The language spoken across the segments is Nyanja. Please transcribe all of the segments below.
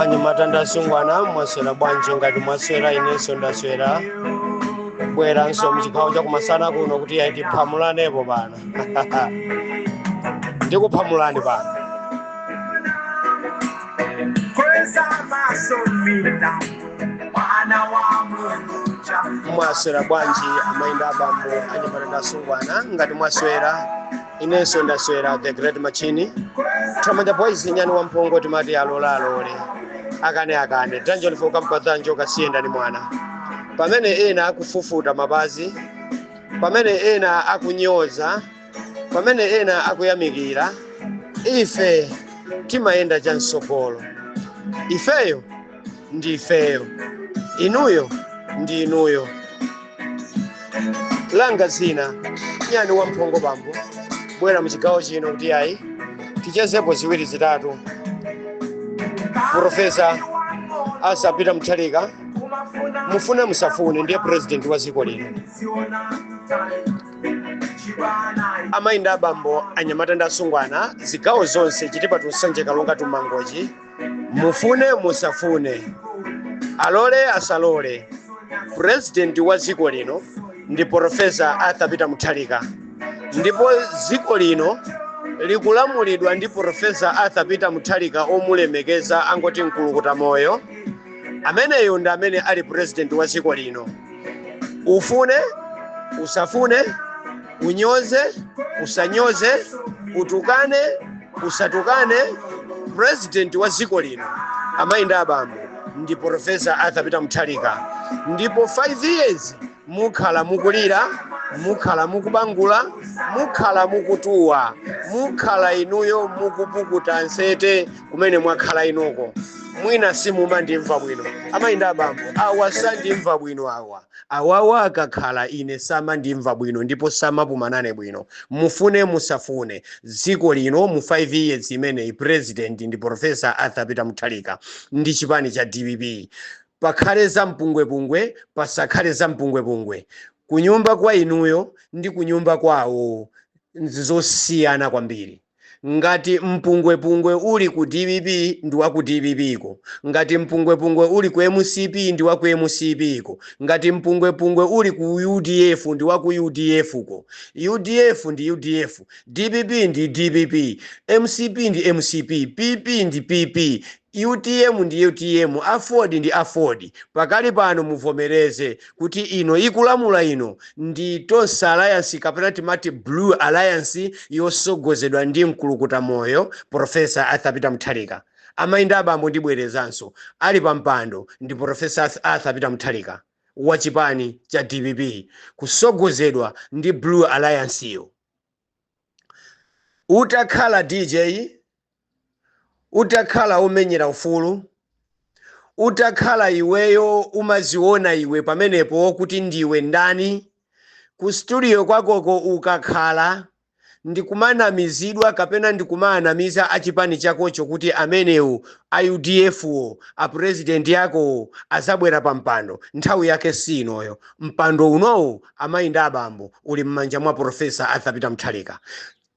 anyamata ndi asungwana mwaswera bwanji ngati mwaswera inenso ndaswera ndabweranso mchigawo chakumasana kuno kuti ayi tiphamulanepo pano ndikuphamulani pano mwaswera bwanji amayi ndi abambo anyamata ndi asungwana ngati mwaswera inenso ndaswera the great machine thamanda boys nyani wamphongo timati alola alole akane akane danjoni fokampa dhanjo kasiyendani mwana pamene ena akufufuta mapazi pamene ena akunyoza pamene ena akuyamikira ife timayenda chamsogolo ifeyo ndi ifeyo inuyo ndi inuyo langa dzina nyani wamphongo ndabwera muchigawo chino kuti ayi tichezepo ziwiri zitatu profesa arthur peter mutharika mufune musafune ndiye president wa dziko lino amayi ndi abambo anyamata ndi asungwana zigawo zonse chitipatu nsanje kalonga tumangochi mufune musafune alole asalole purezidenti wa dziko lino ndi porofesa arthur peter mutharika ndipo dziko lino likulamulidwa ndi porofesa arthur peter mutharika omulemekeza angoti mkulukuta moyo ameneyu ndi amene ali purezidenti wa dziko lino ufune usafune unyoze usanyoze utukane usatukane president wa dziko lino amayi ndi abambo ndi profesa arthur peter mutharika ndipo 5 years mukhala mukulira mukhala mukubangula mukhala mukutuwa mukhala inuyo mukupukuta nsozi kumene mwakhala inuko mwina simumandimva bwino amayi ndi abambo awa samandimva bwino awa Awawa akakhala ine samandimva bwino ndipo samapuma nane bwino. Mufune musafune, dziko lino mu 5 years imeneyi president ndi Prof. Arthur Peter Mutharika ndi chipani cha dpp. Pakhale za mpungwepungwe pasakhale za mpungwepungwe, kunyumba kwa inuyo ndi kunyumba kwawo nzosiyana kwambiri. Ngati mpungwepungwe uli ku dpp ndi wa ku dpp ko, ngati mpungwepungwe uli ku mcp ndi wa ku mcp ko, ngati mpungwepungwe uli ku udf ndi wa ku udf ko. Udf ndi udf, dpp ndi dpp, mcp ndi mcp, PP ndi PP, Utm ndi utm, aford ndi aford, pakali pano muvomereze kuti ino ikulamula ino ndi Tonse alliance kapena timati blue alliance yosogozedwa ndi mkulukuta moyo professor Arthur Peter Mutharika. Amai ndi abambo ndibwerezanso, ali pa mpando ndi professor Arthur Peter Mutharika wa chipani cha dpp kusogozedwa ndi blue alliance yo. Utakhala DJ. utakhala omenyera ufulu, utakhala iweyo umaziona iwe pamenepo kuti ndiwe ndani, ku studio kwakoko ukakhala ndikumanamizidwa kapena ndikumawanamiza a chipani chakocho kuti amenewo a udf wo a president akowo azabwera pa mpando, nthawi yake si inoyo, mpando unowo amayi ndi abambo uli mmanja mwa professor Arthur Peter Mutharika.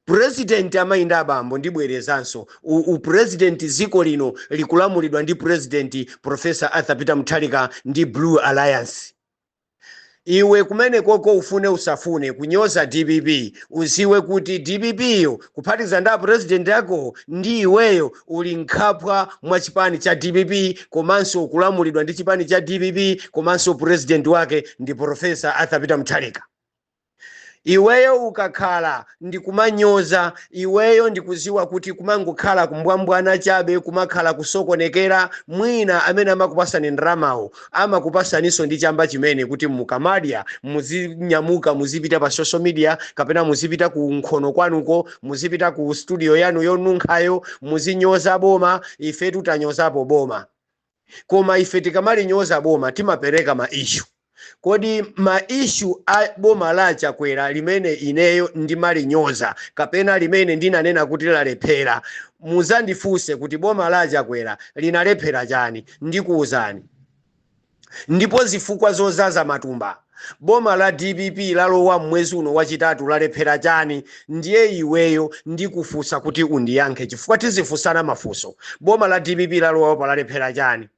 President amayi ndi abambo ndibwerezanso u president dziko lino likulamulidwa ndi president professor Arthur Peter Mutharika ndi blue alliance iwe kumenekoko ufune usafune kunyoza dpp uziwe kuti dpp yo kuphatikiza ndi a president akowo ndi iweyo uli mkhwapa mwa chipani cha dpp komanso ukulamulidwa ndi chipani cha dpp komanso president wake ndi Prof Arthur Peter Mutharika. Iweyo ukakhala ndikumanyoza iweyo ndikuziwa kuti kumangokhala kumbwambwana chabe kumakhala kusokonekera mwina amene amakupasani ndalamawo amakupasaniso ndi chamba chimene kuti mukamadya muzinyamuka muzipita pa social media kapena muzipita ku nkhono kwanuko muzipita ku studio yanu yonunkhayo muzinyoza boma ifetu tanyozapo boma koma ife tikamalinyoza boma timapereka ma issue. Kodi ma issue a boma la a Chakwera limene ineyo ndimalinyoza kapena limene ndinanena kuti lalephera, muzandifunse kuti boma la a Chakwera linalephera chani? Ndikuuzani. Ndipo zifukwa zozaza matumba. Boma la dpp lalowa mmwezi uno wachitatu lalephera chani ndiye iweyo ndikufunsa kuti undiyankhe chifukwa tizifunsana mafunso boma la dpp lalowa apa lalephera chani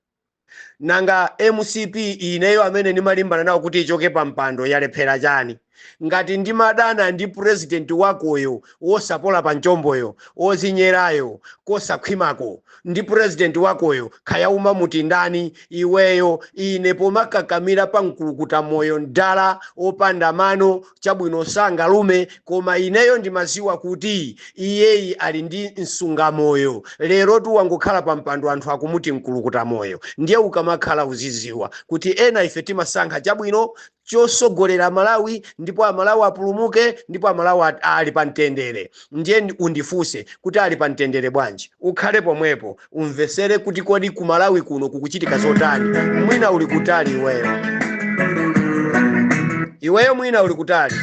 nanga mcp ineyo amene ndimalimbana nawo kuti ichoke pa mpando yalephera chani ngati ndimadana ndi president wakoyo wosapola pa mchomboyo wozinyerayo kosakhwimako ndi president wakoyo kaya umamuti ndani iweyo ine pomakakamira pa mkulukuta moyo mdala opanda mano chabwino sangalume koma ineyo ndimaziwa kuti iyeyi ali ndi msungamoyo lerotu wangokhala pa mpando anthu akumuti mkulukuta moyo ndiye ukamakhala uziziwa kuti ena ife timasankha chabwino chosogolera malawi ndipo amalawi apulumuke ndipo amalawi at- ali pa mtendere ndiye undifunse kuti ali pa mtendere bwanji ukhale pomwepo umvesere kuti kodi ku malawi kuno kukuchitika zotani mwina uli kutali iweyo iweyo mwina uli kutali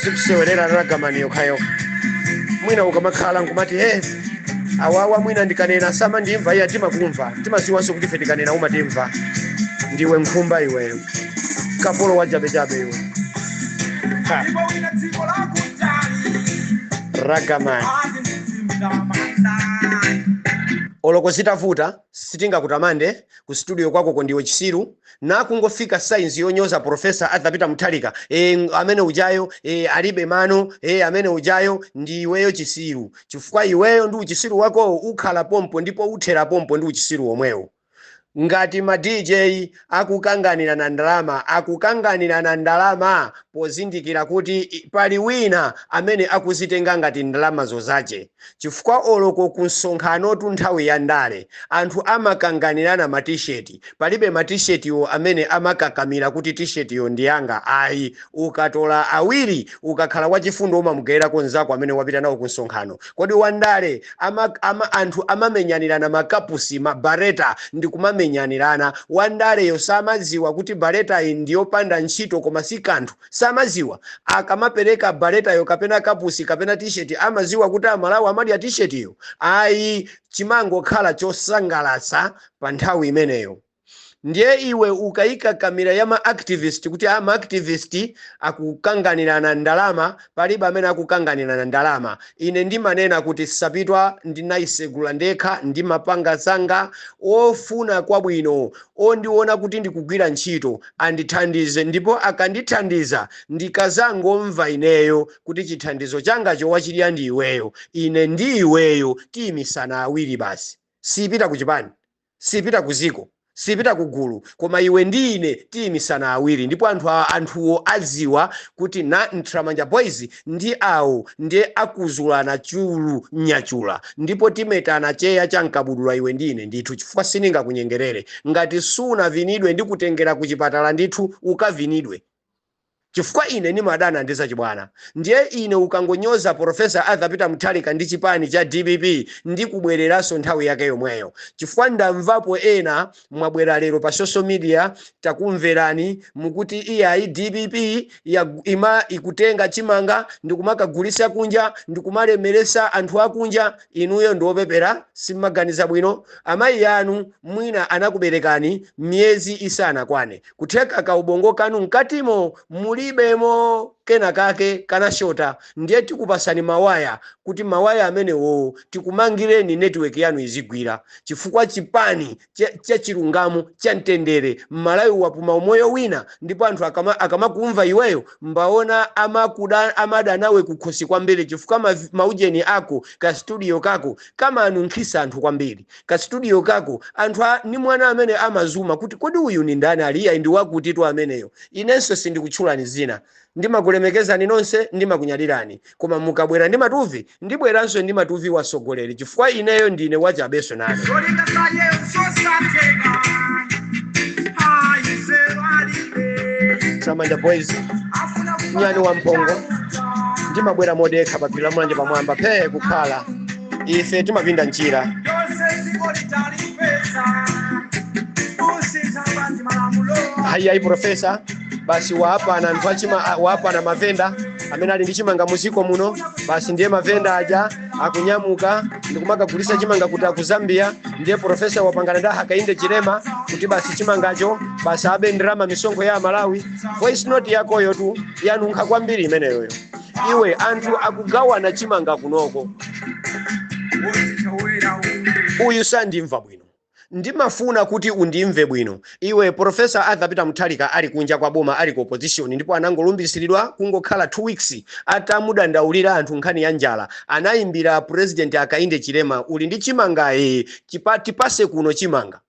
zikusewerera ragamani yokhayokha mwina ukamakhala nkumati he awawa mwina ndikanena samandimva iya timakumva timaziwanso kuti ife tikanena umatimva ndiwe nkhumba iweyo kapolo wachabechabe iwe Ha. ragaman oloko zitavuta sitingakutamande ku studio kwakoko ndiwe chisiru nakungofika sainzi yonyoza profesa Arthur Peter Mutharika e, amene ujayo e, alibe mano e, amene ujayo ndi iweyo chisiru chifukwa iweyo ndi uchisiru wakowo ukhala pompo ndipo uthera pompo ndi uchisiru womwewo Ngati ma DJ akukanganirana ndalama, akukanganirana ndalama pozindikira kuti pali wina amene akuzitenga ngati ndalamazo zache chifukwa oloko ku msonkhanotu nthawi ya ndale anthu amakanganirana ma T-shirt, palibe ma T-shirtiwo amene amakakamira kuti T-shirtiyo ndi yanga ayi, ukatola awiri ukakhala wachifundo umamugayirako nzako amene wapita nawo ku msonkhano. Kodi Wandale ama ama anthu amamenyanirana ma kapusi, ma barretta ndikumamenyanirana. Wandaleyo samaziwa kuti barrettayi ndiyopanda ntchito koma sikanthu? Samaziwa? Akamapereka barrettayo kapena kapusi kapena t-shirt amaziwa kuti Amalawi amadya t-shirt yo? Ayi chimangokhala chosangalatsa pa nthawi imeneyo. Ndiye iwe ukaika kamera ya ma activist kuti a ma activist akukanganirana ndalama, palibe amene akukanganirana ndalama. Ine ndimanena kuti Sapitwa ndinaisegula ndekha ndimapanga zanga, ofuna kwabwino, ondiona kuti ndikugwira ntchito, andithandize ndipo akandithandiza ndikazangomva ineyo kuti chithandizo changacho wachidya ndi iweyo, ine ndi iweyo tiimisana awiri basi. Sipita kuchipani. Sipita ku dziko, sipita ku gulu, koma iwe ndi ine tiimisana awiri ndipo anthu a, anthuwo adziwa kuti na, Ntramanja Boys ndi awo ndiye akuzulana chulu, nyachula, ndipo timetana cheya cha mkabudula iwe ndi ine ndithu chifukwa siningakunyengerere. Ngati sunavinidwe ndikutengera ku chipatala ndithu ukavinidwe. chifukwa ine ndimadana ndi zachibwana ndiye ine ukangonyoza porofesa Arthur Peter Mutharika ndi chipani cha dpp ndikubwereranso nthawi yake yomweyo chifukwa ndamvapo ena mwabwera lero pa social media takumverani mukuti iyayi dpp ya, ima ikutenga chimanga ndikumakagulisa kunja ndikumalemeresa anthu akunja inuyo ndiopepera simmaganiza bwino amayi anu mwina anakuberekani miyezi isanakwane kutheka ka ubongo kanu mkatimo mulibemo kena kake kanashota ndiye tikupasani mawaya kuti mawaya amenewowo tikumangireni network yanu izigwira chifukwa chipani cha- chachilungamo cha mtendere mmalawi wapuma umoyo wina ndipo anthu akama- akamakumva iweyo mbaona amakuda amada nawe kukhosi kwambiri chifukwa ma- maujeni ako ka studio kako kamanunkhisa anthu kwambiri ka studio kako anthu a ni mwana amene amazuma kuti kodi uyu ni ndani ali iyayi ndi wakuti tu ameneyo inenso sindikutchulani zina ndimakulemekezani nonse ndimakunyadilani koma mukabwera ndi matuvi ndibweranso ndi matuvi wasogoleri chifukwa ineyo ndine wachabeso nane Zolinga za Yesu sateka ayisero alibe samanja boys afuna nyani wa mpongo ndimabwera modekha pa phiri la mulanje pamwamba phee kukhala ife timapinda njira ayi ayi profesa basi waapana anthu achima a- waapana mavenda amene ali ndi chimanga muziko muno basi ndiye mavenda aja akunyamuka ndikumakagulisa chimanga kuti aku zambia ndiye profesa wapangana ndi hakainde chilema kuti basi chimangacho basi abe ndalama misonkho ya amalawi voice note yakoyo tu yanunkha kwambiri imeneyoyo iwe anthu akugawana chimanga kunoko uyu sandimva bwino ndimafuna kuti undimve bwino iwe profesa arthur peter mutharika ali kunja kwa boma ali ku opposition ndipo anangolumbiritsidwa kungokhala 2 weeks atamudandaulira anthu nkhani ya njala anayimbira president hakainde chilema uli ndi chimanga ee chilipo tipase kuno chimanga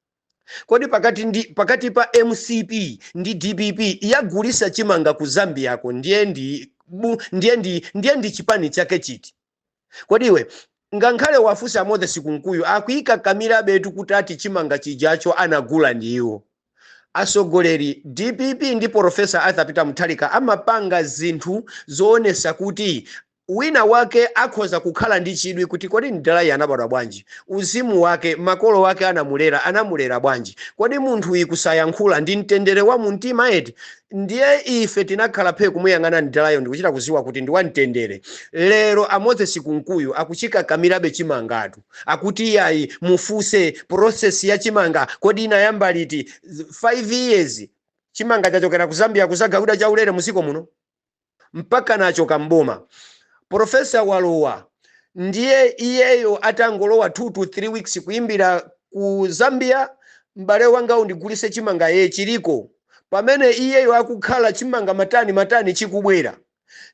Kodi pakati ndi pakati pa mcp ndi dpp yagulisa chimanga ku zambiako ndiye ndi bu ndiye ndi ndiye ndi chipani chake chiti kodi iwe ngankhale uwafunse a moses kunkuyu akuikakamilabetu kuti ati chimanga chijacho anagula ndi iwo asogoleri dpp ndi porofesa arthur peter mutharika amapanga zinthu zoonesa kuti Wina wake akhoza kukhala ndi chidwi kuti kodi mdalayi anabadwa bwanji? Uzimu wake, makolo ake anamulera, anamulera bwanji? Kodi munthuyi kusayankhula ndi mtendere wa mu mtima eti? Ndiye ife tinakhala phee kumuyang'ana mdalayo ndikuchita kuziwa kuti ndi wa mtendere. Lero a Moses Kunkuyu akuchikakamirabe chimangatu. Akuti iyayi mufuse process ya chimanga kodi inayamba liti? 5 years chimanga chachokera ku Zambia kuzagawidwa chaulere mu dziko muno? mpakana achoka m'boma. Professor walowa ndiye iyeyo atangolowa 2 to 3 weeks kuimbira ku Zambia m'bale wanga undigulise chimanga ee chiliko pamene iyeyo akukhala chimanga matani matani chikubwera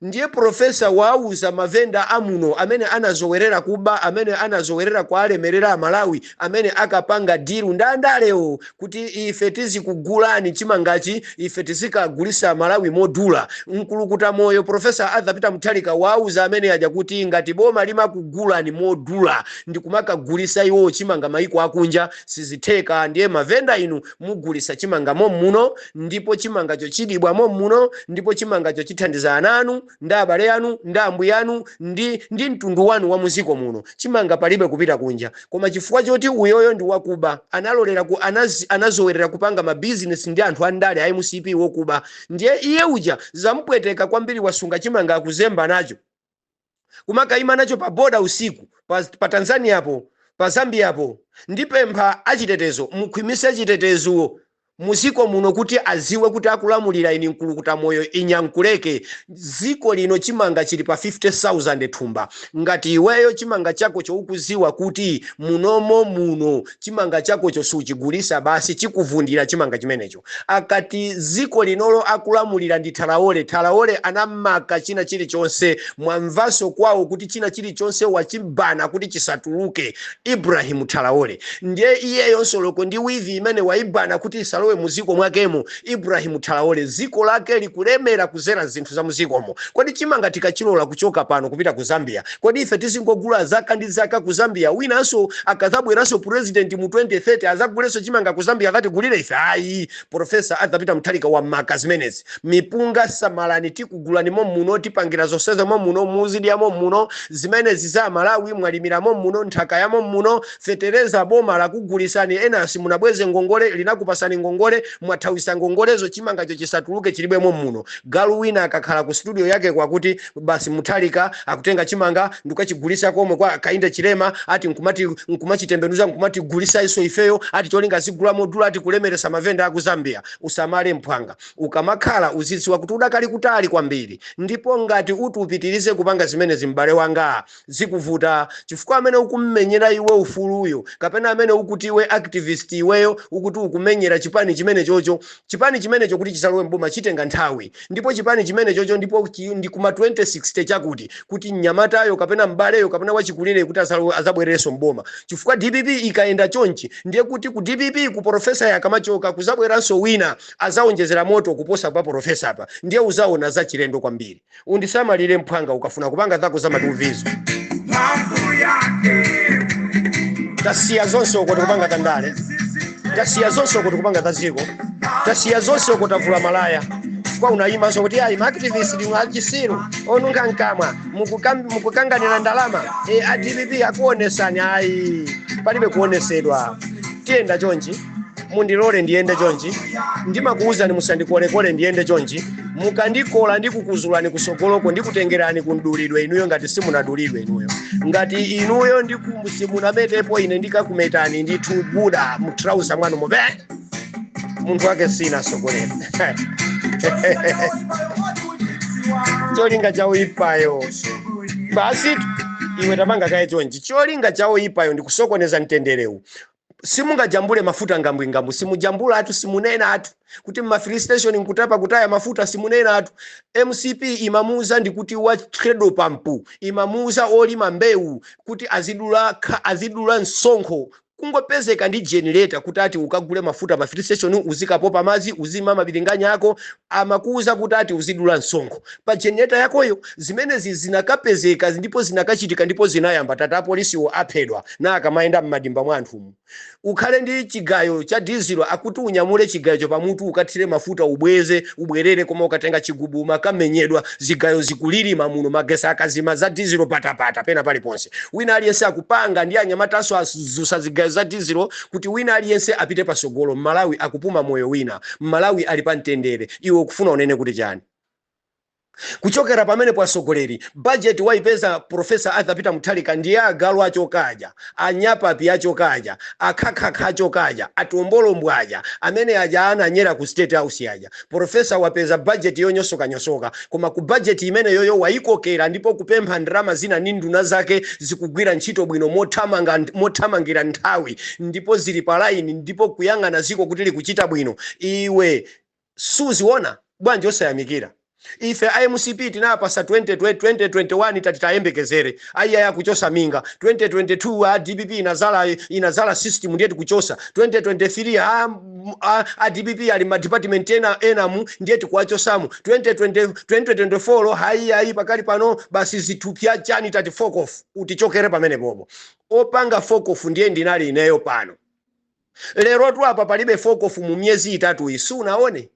ndiye professor wauza mavenda amuno amene anazowerera kuba amene anazowerera kuwalemerera amalawi amene akapanga deal ndi andalewo kuti ife tizikugulani chimangachi ife tizikagulitsa Malawi modula mkulukuta moyo Prof. Arthur Peter Mutharika wauza amene aja kuti ngati boma limakugulani modula ndikumakagulitsa iwowo chimanga maiko akunja sizitheka ndiye mavenda inu mugulitsa chimanga mom'muno ndipo chimangacho chidyebwa mom'muno ndipo chimangacho chithandiza ana anu ndi abale anu, ndi ambwiyanu, ndi, ndi mtundu wanu wa mu dziko muno, chimanga palibe kupita kunja. Koma chifukwa choti uyoyo ndi wakuba, analolera ku, anaz, anazowerera kupanga ma business ndi anthu a ndale a mcp wokuba. Ndiye iye uja zampweteka kwambiri wasunga chimanga akuzemba nacho. Kumakaima nacho pa border usiku, pa, pa Tanzania po, pa Zambia po. Ndipempha achitetezo, mukhwimise chitetezo. muziko muno kuti aziwe kuti akulamulira inu nkulukuta moyo inya nkuleke ziko lino chimanga chili pa 50000 thumba ngati iweyo chimanga chakocho ukuziwa kuti munomo muno chimanga chakocho suchigulitsa basi chikuvundira chimanga chimenecho akuti ziko linolo akulamulira ndi Traore Traore anamaka china chilichonse mwamvanso kwawo kuti china chilichonse wachi-ban-a kuti chisatuluke Ibrahim Traore ndiye iyeyonso loko ndi wivi imene waibana kuti isalowe muziko mwakemo Ibrahim Traore ziko lake likulemera kuzera zinthu zamuzikomo kodi chimanga tikachilola kuchoka pano kupita ku Zambia kodi ife tizingogula zaka ndi zaka ku Zambia winanso akazabweranso president mu 2030 azagulenso chimanga ku Zambia akatigulile ife ayi Prof Arthur Peter Mutharika wamaka zimenezi mipunga samalani tikugulani mommuno tipangira zonsezo mommuno muzidya mommuno zimenezi za amalawi mwalimira mommuno nthaka ya mommuno fetereza boma lakugulitsani ena simunabweze ngongole linakupasani ngongole mwathawisa ngongolezo chimangacho chisatuluke chidyedwe mommuno galu wina akakhala ku studio yakeko akuti Basi Mutharika akutenga chimanga ndikukachigulitsa komwe kwa Hakainde Hichilema ati nkumati nkumachitembenuza nkumatigulitsanso ifeyo ati cholinga azigula modula ati kulemelesa mavenda aku Zambia. Usamale mphwanga. Ukamayankhula uzidziwa kuti udakali kutali kwambiri ndipo ngati uti upitilize kupanga zimenezi m'bale wangaa Zikuvuta chifukwa amene ukummenyera iwe ufuluyo kapena amene ukuti iwe activist iweyo ukuti ukumenyera chipani chimenechocho, chipani chimenecho kuti chizalowe m'boma chitenga nthawi ndipo chipani chimenechocho ndipo chi ndi kuma 2060 chakuti kuti mnyamatayo kapena m'baleyo kapena wachikulireyo kuti azalowe azabwererenso m'boma chifukwa dpp ikayenda chonchi ndiye kuti ku dpp ku porofesayo akamachoka kuzabweranso wina azaonjezera moto kuposa pa porofesapa ndiye uzaona zachilendo kwambiri. undisamalire mphwanga ukafuna kupanga zako za matuvizo mphamvu yake tasiya zonse uko tikupanga za ndale tasiya zonse uko tikupanga za dziko tasiya zonse uko tavula malaya kwa unaimanso kuti ayi maaktivist ndinu achitsiru onunkha mkamwa mukukam- mukukanganira ndalama e, a dpp akuonesani ayi palibe kuonesedwa tiyenda chonchi mundilole ndiyende chonchi ndimakuwuzani musandikolekole ndiyende chonchi mukandikola ndikukuzulani kutsogoloko ndikutengerani kumdulidwe inuyo ngati simunadulidwe inuyo ngati inuyo ndiku- simunametepo ine ndikakumetani ndithu buda mutrauza mwanu mobe munthu wake sinasokolera cholinga cha oyipayo basi iwe tamanga kaye chonchi cholinga cha oyipayo ndikusokoneza mtenderewu simungajambule mafuta ngambwingambu simujambulatu simunenatu kuti m'ma filling station nkutapa kutaya mafuta simunenatu mcp imamuuza ndi kuti wa treadle pampu imamuuza olima mbewu kuti azidula kha- azidula msonkho kungopezeka ndi generator kuti ati ukagule mafuta pa filling station uzikapopa madzi uzilima mabilinganya ako amakuuza kuti ati uzidula msonkho pa generator yakoyo Zimenezi zinakapezeka ndipo zinakachitika ndipo zinayamba tati apolisiwo aphedwa na akamayenda m'madimba mwa anthumu ukhale ndi chigayo cha dizilo akuti unyamule chigayocho pamutu ukathire mafuta ubweze ubwerere koma ukatenga chigubu umakamenyedwa zigayo zikulilima muno magesi akazima za dizilo patapata pena paliponse wina aliyense akupanga ndi anyamatanso adzutsa zigayo za dizilo kuti wina aliyense apite patsogolo m'malawi akupuma moyo wina m'malawi ali pa mtendere iwe ukufuna unene kuti chani? Kuchokera pamenepo atsogoleri, budget waipeza Prof. Arthur Peter Mutharika ndiye agalu achoka aja, a Nyapapi achoka aja, a khakhakha achoka aja, a Tombolombwa aja, amene aja ananyera ku State House aja. Prof. wapeza budget yonyosokanyosoka koma ku budget imeneyoyo waikokera ndipo kupempha ndalama zina ndi nduna zake zikugwira ntchito bwino mothamanga mothamangira nthawi ndipo zili pa line ndipo kuyang'ana dziko kuti likuchita bwino. Iwe. Sukuziona? Bwanji osayamikira? Ife a mcp tinawapasa 20, 2021 tati tayembekezere ayiyayi akuchotsa minga 2022 a dpp inazalayi inazala system ndiye tikuchotsa 2023 a a dpp ali ma department ena enamu ndiye tikuwachotsamo 2020 2024 hayiyayi pakali pano basi zithupsya chani tati fokofu utichokere pamene popo opanga fokofu ndiye ndinali ineyo pano Lerotu apa palibe four of mu miyezi itatuyi, usanaone?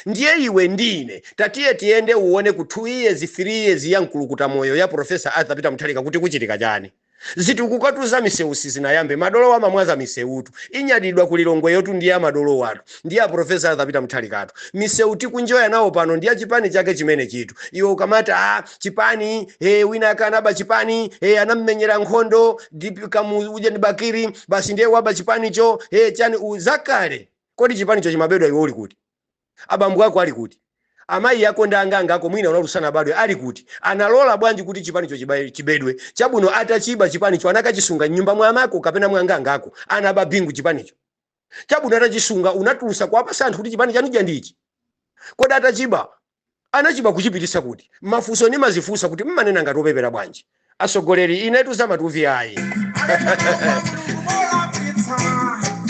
Ndiye iwe ndi ine tatiye tiyende uone ku two years, three years ya mkulukuta moyo ya Professor Arthur Peter Mutharika kuti kuchitika chani. Zitukukatu za misewu sizinayambe, madolowo amamwaza misewutu. Inyadiridwa ku Lilongweyotu ndi ya madolowatu, ndi ya Professor Arthur Peter Mutharikatu. Misewu tikuenjoya nawo pano ndi ya chipani chake chimenechitu. Iwe ukamati, ah, chipani e, wina ake anaba chipani e, anammenyera nkhondo Kamuzu uja ndi bakiri basi ndiye waba chipanicho e, chani u- zakale kodi chipanicho chimabedwa iwe uli kuti abambo ako ali kuti amayi ako ndi anganga ako mwina unali usanabadwe ali kuti analola bwanji kuti chipanicho chiba- chibedwe chabwino atachiba chipanicho anakachisunga mnyumba mwa amako kapena mwa anganga ako anaba bingu chipanicho Chabwino, atachisunga unatulusa kuwapasa anthu kuti chipani chanu chija ndi ichi? Kodi atachiba, anachiba kuchipitisa kuti? Mafuso nimazifusa kuti mmanena ngati opepera bwanji asogoleri inetu zamatuvi ayi.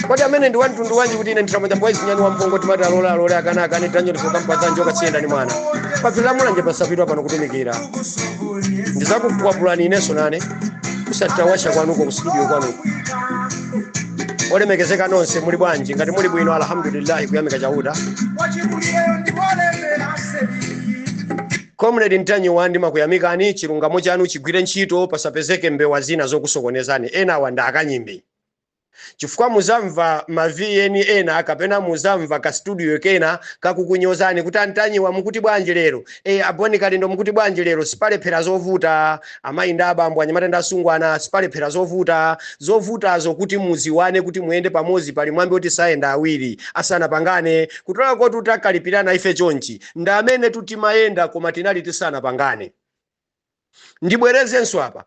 Kodi amene ndi wamtundu wanji kuti ine ndimawatcha boys nyani wampongo timati alole alole akana akane tanyo ndizokampatsa njoka siyenda ni mwana. Paphiri la mulanje pasapitwa pano kutumikira. Ndizakukwapulani ineso nane. Kusatawasa kwanuko kustudio kwanuko. olemekezeka nonse muli bwanji ngati muli bwino alhamdulillahi kuyamika chauta comrade Ntanyiwa ndimakuyamikani chilungamo chanu chigwire ntchito pasapezeke mbewa zina zokusokonezani enawa ndi akanyimbi chifukwa muzamva ma vn ena kapena muzamva ka studio kena kakukunyozani kuti antanyiwa mukuti bwanji lero e a Bon Kalindo mukuti bwanji lero sipalephera zovuta amayi ndi abambo anyamata ndi asungwana sipalephera zovuta zovutazo kuti mudziwane kuti muyende pamodzi pali mwambi woti sayenda awiri asanapangane kutanthauza kuti takalipirana ife chonchi ndi amenetu timayenda koma tinali tisanapangane ndibwerezenso apa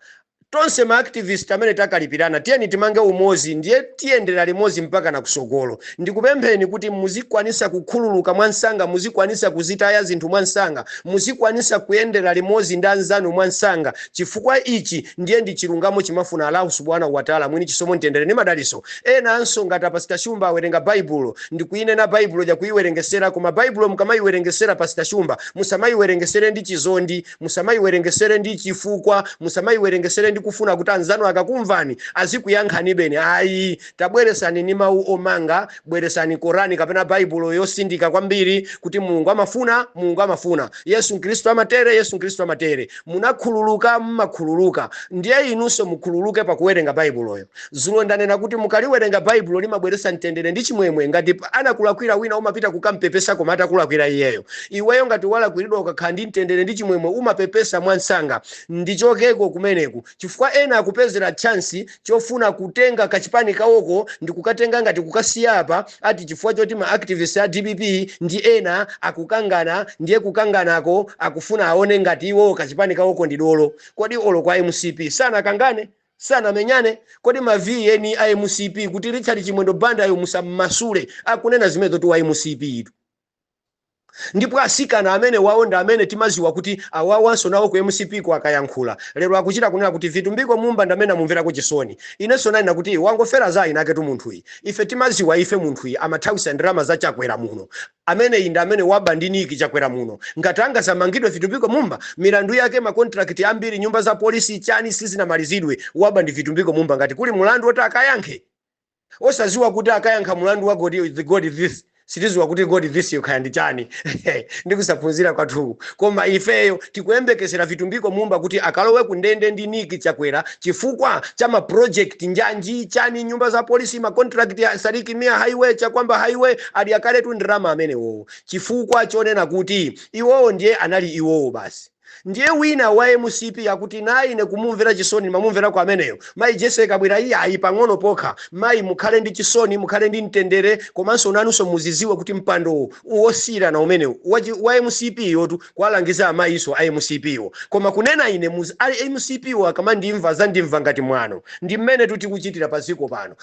tonse maactivist amene takalipirana tiyeni timange umozi ndiye tiyendera limodzi mpaka na kusogolo Ndikupempheni kuti muzikwanisa kukhululuka mwansanga, muzikwanisa kuzitaya zinthu mwansanga, muzikwanisa kuyendera limodzi ndi anzanu mwansanga chifukwa ichi ndiye ndi chilungamo chimafuna Allahu subhanahu wa Ta'la mwini chisomo mtendere ndi madaliso enanso ngati a pastor shumba awerenga baibulo ndikuinena baibulo ndakuiwerengesera koma baibulo mukamaiwerengesera pastor shumba musamaiwerengesere ndi chizondi musamaiwerengesere ndi chifukwa musamaiwerengesere ndi kufuna kuti anzanu akakumvani azikuyankhanibeni ayi Tabweresanini mawu omanga, bweresani Korani kapena Baibulo yosindika kwambiri kuti Mulungu amafuna, Mulungu amafuna, Yesu Kristu amatere, Yesu Kristu amatere, munakhululuka, mumakhululuka, ndiye inunso mukhululuke pakuwerenga Baibuloyo. Zulo ndanena kuti mukaliwerenga Baibulo limabweretsa mtendere ndi chimwemwe. Ngati anakulakwira wina umapita kukampepesa koma atakulakwira iyeyo. Iweyo ngati walakwiridwa ukakhala ndi mtendere ndi chimwemwe umapepesa mwansanga. Ndichokeko kumeneku. chifukwa ena akupezera chance chofuna kutenga kachipani kawoko ndikukatenga ngati kukasiya apa ati chifukwa choti ma activist a dpp ndi ena akukangana ndiye kukanganako akufuna aone ngati iwowo kachipani kawoko ndi dolo kodi olo kwa mcp sanakangane sanamenyane kodi ma vn a mcp kuti richard chimwendo bandayo musammasule akunena zimenezotu wa mcp tu Ndipo asikana amenewawo ndi amene timaziwa kuti awawanso nawo ku mcp ko akayankhula lero akuchita kunena kuti Vitumbiko Mumba ndi amene amumverako chisoni. Inenso nanena kuti wangofera za eni aketu munthuyi. Ife timaziwa ife munthuyi amathawisa ndalama za Chakwera muno. Ameneyi ndi amene waba ndi Nick Chakwera muno. Ngati angazamangidwe Vitumbiko Mumba milandu yake ma contract ambiri nyumba za polisi chani sizinamalizidwe. Waba ndi Vitumbiko Mumba ngati kuli mulandu oti akayankhe. osaziwa kuti akayankha mulandu wa god the god this sitiziwa kuti god this yo kaya ndi chani ndikusaphunzira kwathuku koma ifeyo tikuyembekezera vitumbiko mumba kuti akalowe ku ndende ndi nick chakwera chifukwa cha ma project njanji chani nyumba za polisi ma contract ya sidik mia highway chakuamba highway adya kaletu ndrama amenewowo chifukwa chonena kuti iwowo ndiye anali iwowo basi Ndiye wina wa mcp akuti naye ine kumumvera chisoni ndimamumverako ameneyo mayi Jessie Kabwila iyayi pang'ono pokha mayi mukhale ndi chisoni mukhale ndi mtendere komanso nanunso muziziwa kuti mpandowo wosiyirana umenewu wachi wa mcp yotu kuwalangiza amayinso a mcp wo koma kunena ine muz a mcp wo akamandimva azandimva ngati mwano ndi mmenetu tikuchitira pa dziko pano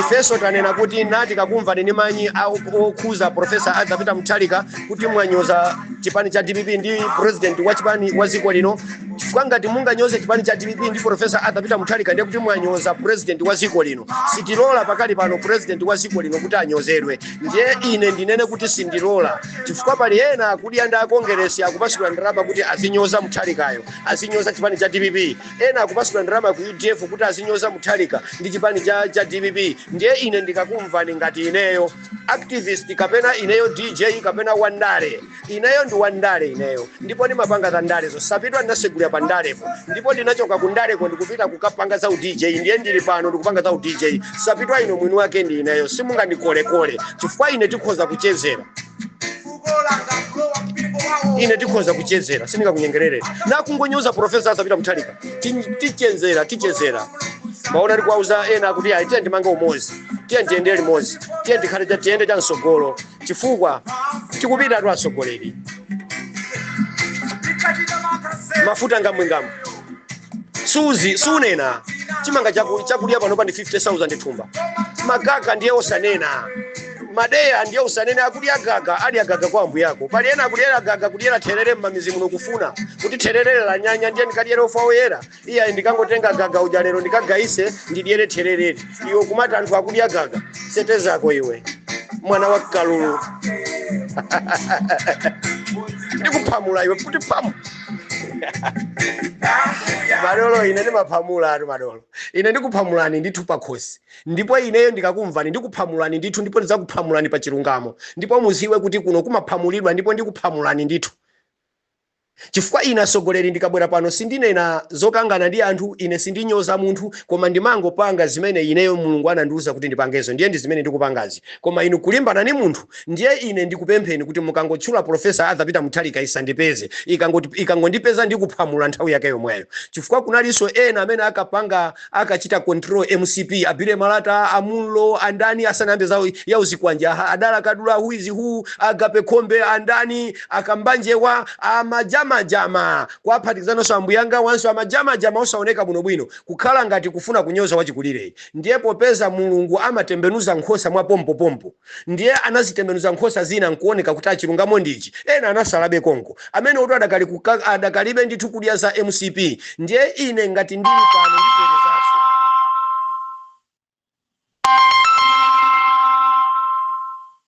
ifenso tanena kuti na tikakumvani ni manyi a- okhuza profesa arthur peter mutharika kuti mwanyoza chipani cha dpp ndi president wa chipani wa dziko lino chifukwa ngati munganyoze chipani cha dpp ndi profesa arthur peter mutharika ndiye kuti mwanyoza president wa dziko lino sitilola pakali pano president wa dziko lino kuti anyozedwe ndiye ine ndinene kuti sindilola chifukwa pali ena akudya ndi akongeresi akupasidwa ndalama kuti azinyoza mutharikayo azinyoza chipani cha dpp Ena akupasidwa ndalama ku udf kuti azinyoza Mutharika ndi chipani cha cha dpp ndiye ine ndikakumvani ngati ineyo activist kapena ineyo DJ kapena wandale ineyo ndi wandale ineyo ndipo ndimapanga za ndalezo sapitwa ndinasegulira pa ndalepo ndipo ndinachoka ku ndaleko ndikupita kukapanga za u DJ ndiye ndili pano ndikupanga za u DJ sapitwa ino mwini wake ndi ineyo simungandikolekole chifukwa ine tikhoza kuchezera ine tikhoza kuchezera sindingakunyengerere nakungonyoza profesa arthur peter mutharika tichezera tichezera mwaona tikuwauza ena kuti ayi tiyeni timange umozi tiyeni tiyende limodzi tiyeni tikhale cha- tiyende cha msogolo chifukwa tikupitatu atsogoleri mafuta ngamwingamu suzi sunena chimanga chaku- chakudya panopa ndi 50000 thumba makaka ndiye osanena madeya ndiye usanene akudya gaga adya gaga kwa ambuye ako pali ena akudyera gaga kudyera therere m'mamidzi muno kufuna kuti therere lanyanya ndiye ndikadyere ufa woyera iye ayi ndikangotenga gaga uja lero ndikagayise ndidyere therereri iwe kumati anthu akudya gaga sete zako iwe mwana wa kalulu ndikuphamula iwe kuti phamu madolo ine ndimaphamulatu madolo ine ndikuphamulani ndithu pakhosi Ndipo ineyo ndikakumvani ndikuphamulani ndithu ndipo ndidzakuphamulani pa chilungamo. Ndipo mudziwe kuti kuno kumaphamulidwa ndipo ndikuphamulani ndithu. Chifukwa ine atsogoleri ndikabwera pano sindinena zokangana ndi anthu, ine sindinyoza munthu koma ndimangopanga zimene ineyo Mulungu anandiuza kuti ndipangezo ndiye ndi zimene ndikupangazi. Koma inu kulimbana ndi munthu ndiye ine ndikupempheni kuti mukangotchula Prof. Arthur Peter Mutharika isandipeze. Ikangoti ikangondipeza ndikuphamula nthawi yake yomweyo. Chifukwa kunalinso ena amene akapanga. akachita control mcp a Billy Malata a Munlo andani asanayambe za uzikwanje aha adala kadula who is who agape khombe andani akambanjewa amajamajama kuwaphatikizanonso ambuyanga awanso amajamajama osaoneka bwinobwino kukhala ngati kufuna kunyoza wachikulireyi ndiye popeza mulungu amatembenuza nkhosa mwa pompopompo Ndiye anazitembenuza nkhosa zina nkuoneka kuti chilungamo ndi ichi, ena anatsalabe konko. Amenewotu adakali ku kk adakalibe ndithu kudya za mcp. Ndiye ine ngati ndili pano ndibwerezanso.